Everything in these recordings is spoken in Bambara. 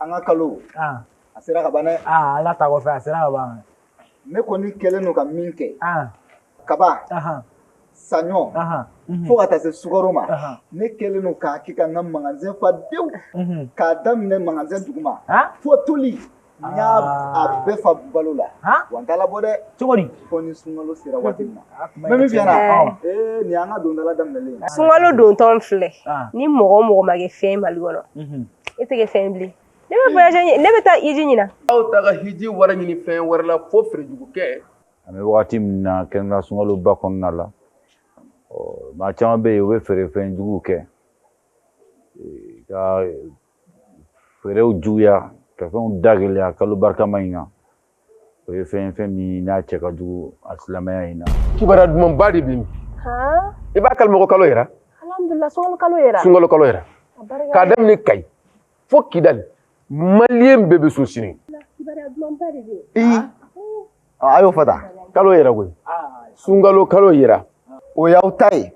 an ka kalo a sera ka ban dɛ ala ta kɔfɛ a sera ka ban ne kɔni kɛlen don ka min kɛ kaba saɲɔ mhm. fo ka taa se sukaro ma ne kɛlen don k'a kɛ ka n ka magasin fa dewu mhm. k'a daminɛ magasin duguma fo toli n y'a a ah. bɛɛ fa balo la wa n t'a labɔ dɛ cogo di fo ni sunkalo sera waati min na mɛ min fiyɛna ee nin y'an ka dondala daminɛlen ye sunkalo dontɔ filɛ ni mɔgɔ o mɔgɔ ma kɛ fɛn mali kɔnɔ mhm. e tɛ kɛ fɛn bilen ne bɛ voyage ɲini ne bɛ taa hiji ɲinan aw t'a ka hiji wari ɲini fɛn wɛrɛ la fo feere jugu kɛ an bɛ wagati min na kɛrɛnkɛrɛnnenya sunkaloba kɔnɔna la maa caman bɛ yen u bɛ feerefɛn juguw kɛ ka feerew juguya ka fɛnw da gɛlɛya kalo barikama in kan o ye fɛn fɛn min n'a cɛ ka jugu a silamɛya in na kibaruya dumanba de bɛ yen han i b'a kalama ko kalo yera alhamdulilah sunkalo kalo yera sunkalo kalo yera a barika k'a daminɛ kayi fo kidali maliyɛn bɛɛ bɛ sun sini kibaruya dumanba de bɛ yen a y'o fɔ tan kalo yera koyi sunkalo kalo yera o y'aw ta ye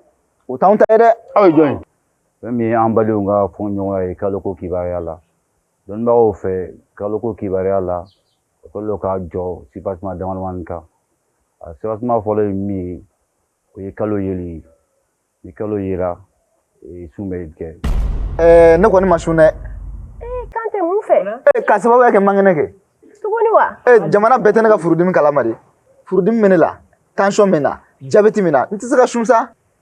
o t'anw ta ye dɛ aw ye jɔn ye fɛn min ye an badenw ka fɔɲɔgɔnya ye kalo ko kibaruya la Dɔnnibagaw fɛ kaloko kibaruya la o kɛlen don k'a jɔ sipasima damadamanin kan a sipasima fɔlɔ ye min ye o ye kalo yeli ye ni kalo yera e, sun bɛ kɛ. Eh, ne kɔni ma sun dɛ. Eh, kan tɛ mun fɛ. Eh, k'a sababuya kɛ n man kɛnɛ kɛ. Tuguni wa? Eh, jamana bɛɛ tɛ ne ka furudimi kalama dɛ. Furudimi bɛ ne la, tension bɛ n na, jabɛti bɛ n na, n tɛ se ka sun sa.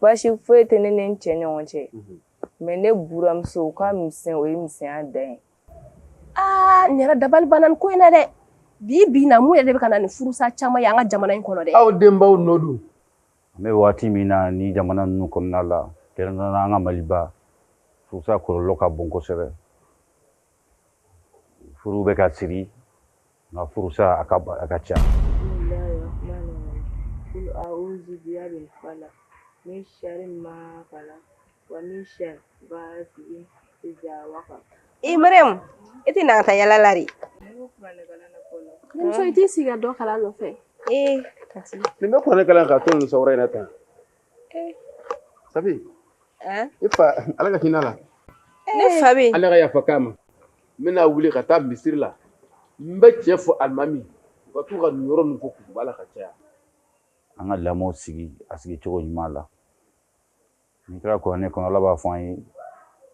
Basi foyi tɛ ne ni n cɛ ɲɔgɔn cɛ mɛ ne buranmuso ka misɛn o ye misɛnya dan ye aa n yɛrɛ dabali banna ko in na dɛ bi bi na mun yɛrɛ de bɛ ka na ni furusa caman ye an ka jamana in kɔnɔ dɛ aw denbaw nɔ don an bɛ waati min na ni jamana ninnu kɔnɔna la kɛrɛnkɛrɛnnenya an ka maliba furusa kɔlɔlɔ ka bon kosɛbɛ furu bɛ ka siri nka furusa a ka a ka ca min sharri ma khalaq wa min sharri ghasiqin idha waqab mariam i tɛ na taa yala la de muso i t'i sigi ka dɔ kalan nɔfɛ ee nin bɛ kuranɛ kalan ka to nin sawura in na tan Sabu i fa ala ka hinɛ a la ne fa ala ka yafa k'a ma n bɛna wuli ka taa misiri la n bɛ cɛ fɔ alimami ka to ka nin yɔrɔ ninnu fɔ kutuba la ka caya an ka lamɔ sigi a sigi cogo ɲuman la n'i taara kuranɛ kɔnɔ ala b'a fɔ an ye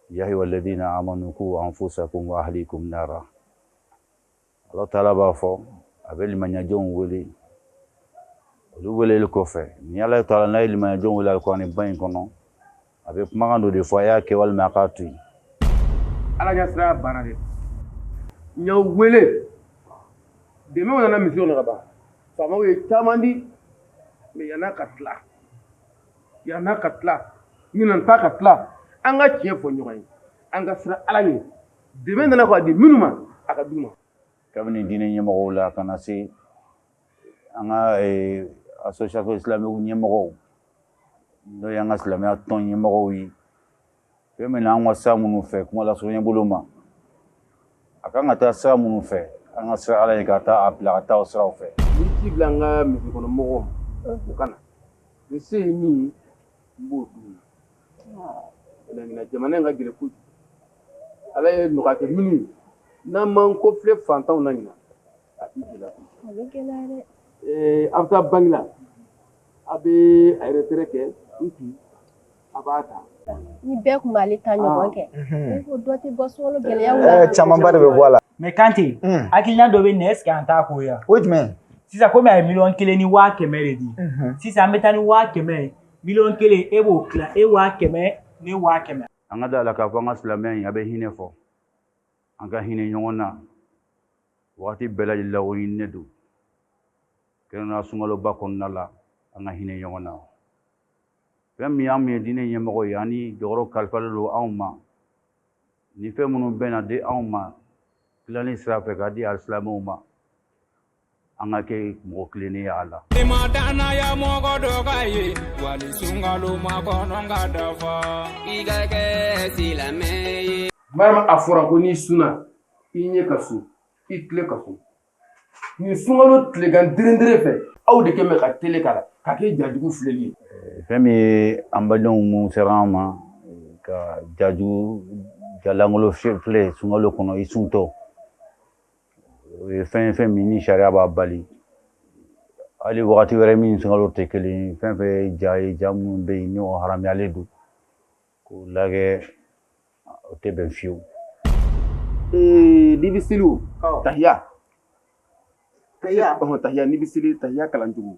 ya ayyuha alladhina amanu qu anfusakum wa ahlikum nara Ala taala b'a fɔ a bɛ limaniyajɔnw wele olu weleli kɔfɛ ni Ala taala n'a ye limaniyajɔnw wele alikuranɛ ba in kɔnɔ a bɛ kumakan dɔ de fɔ a y'a kɛ walima a k'a to yen. Ala ɲɛ siranya banna dɛ n y'aw wele dɛmɛw nana misiw na ka ban faamaw ye caman di mais yan'a ka tila yan'a ka tila ɲinan ta ka tila an ka tiɲɛ fɔ ɲɔgɔn ye an ka siran Ala ɲɛ Dɛmɛ nana k' a di minnu ma a ka du ma kabini diinɛ ɲɛmɔgɔ la ka na se an ka association islamique ɲɛmɔgɔ n'o y'an ka silamɛya tɔn ɲɛmɔgɔ ye fɛn min an ka sira minnu fɛ kuma lase ɲɛ bolo ma a ka kan ka taa sira minnu fɛ an ka siran Ala ɲɛ ka taa a bila a taa sira fɛ bila an ka mɔgɔw u ka na n se ye min ye n b'o d'u ma Ɲinan jamana in ka gɛlɛn kojugu Ala ye nɔgɔya kɛ minnu ye n'an m'an kɔfilɛ faantanw na ɲinan a bɛ gɛlɛya kojugu a bɛ gɛlɛya dɛ ee a bɛ taa banki la a bɛ a retrait kɛ n kun a b'a ta ni bɛɛ tun b'ale ta ɲɔgɔn kɛ ne ko dɔ tɛ bɔ sunkalo gɛlɛyaw la camanba de bɛ bɔ a la mais Kante hakilina dɔ bɛ nin na est ce que an t'a k'o ye wa o ye jumɛn ye sisan komi a ye miliyɔn kelen ni waa kɛmɛ de di sisan an bɛ taa ni waa kɛmɛ ye miliyɔn kelen e b'o tila e waa kɛmɛ ne waa kɛmɛ an ka da la k'a fɔ an ka silamɛya in a bɛ hinɛ fɔ an ka hinɛ ɲɔgɔn na wagati bɛɛ lajɛlen la o ɲininen don kɛrɛnkɛrɛnnenya sunkaloba kɔnɔna la an ka hinɛ ɲɔgɔn na fɛn min y'an min ye diinɛ ɲɛmɔgɔ ye ani jɔyɔrɔ kalifalen don anw ma ni fɛn minnu bɛna di anw ma tilali sira fɛ k'a di alisilamɛw ma an ka kɛ mɔgɔ tilennen y'a la ma dannaya mɔgɔ dɔ ka ye wali sunkalo makɔnɔ ka dafa i ka kɛ silamɛ ye balima a fɔra ko n'i sunna i ɲɛ ka sun i tulo ka sun nin sunkalo tilegan dirindire fɛ aw de kɛmɛ ka tele k'a la ka kɛ jajugu filɛli ye fɛn min ye an badenw mun sera an ma ka jajugu jalangolo filɛ sunkalo kɔnɔ i suntɔ o ye fɛn fɛn min ni sariya b'a bali hali wagati wɛrɛ min sunkalo tɛ kelen fɛn fɛn ye ja ye ja minnu bɛ yen n'o haramuyalen don k'o lagɛ o tɛ bɛn fiyewu n'i bɛ seli o tahiya tahiya tahiya n'i bɛ seli tahiya kalan cogo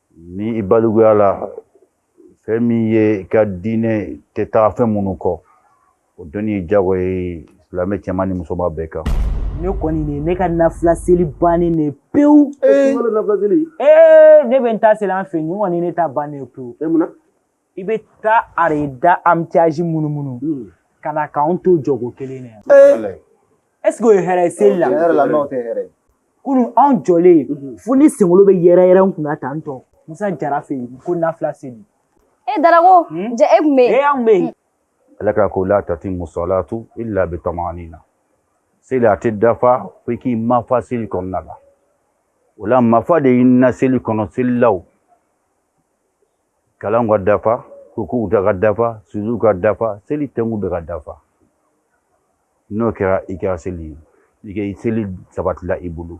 Ni i balikuya la fɛn min ye i ka diinɛ tɛ taga fɛn minnu kɔ o dɔnni ye jagoya ye silamɛ cɛman ni musoman bɛɛ kan ne kɔni de ne ka nafila seli bannen de pewu ee ne bɛ n ta seli an fɛ yen nin kɔni ne ta bannen pewu i bɛ taa arayida amitiyaji munumunu hmm. ka na k'anw to jɔgo kelen na yan est-ce que o ye hɛrɛ ye seli la tiɲɛ yɛrɛ la n'o tɛ hɛrɛ ye kunun anw jɔlen hmm. fo ne senkolo bɛ yɛrɛ yɛrɛ n kunna tan tɔ musa jara fɛ yen ko nafila seli e darako hmm? ja e tun bɛ yen e anw bɛ yen ala ka ko la tatimmu salatu illa bi tamanina seli a tɛ dafa fo i k'i mafa seli kɔnɔna la o la mafa de ɲinina seli kɔnɔ selilaw kalan ka dafa rukuu ka dafa sujudu ka dafa seli tɛnku bɛɛ ka dafa n'o kɛra i kɛra seli ye i ka seli sabatila i bolo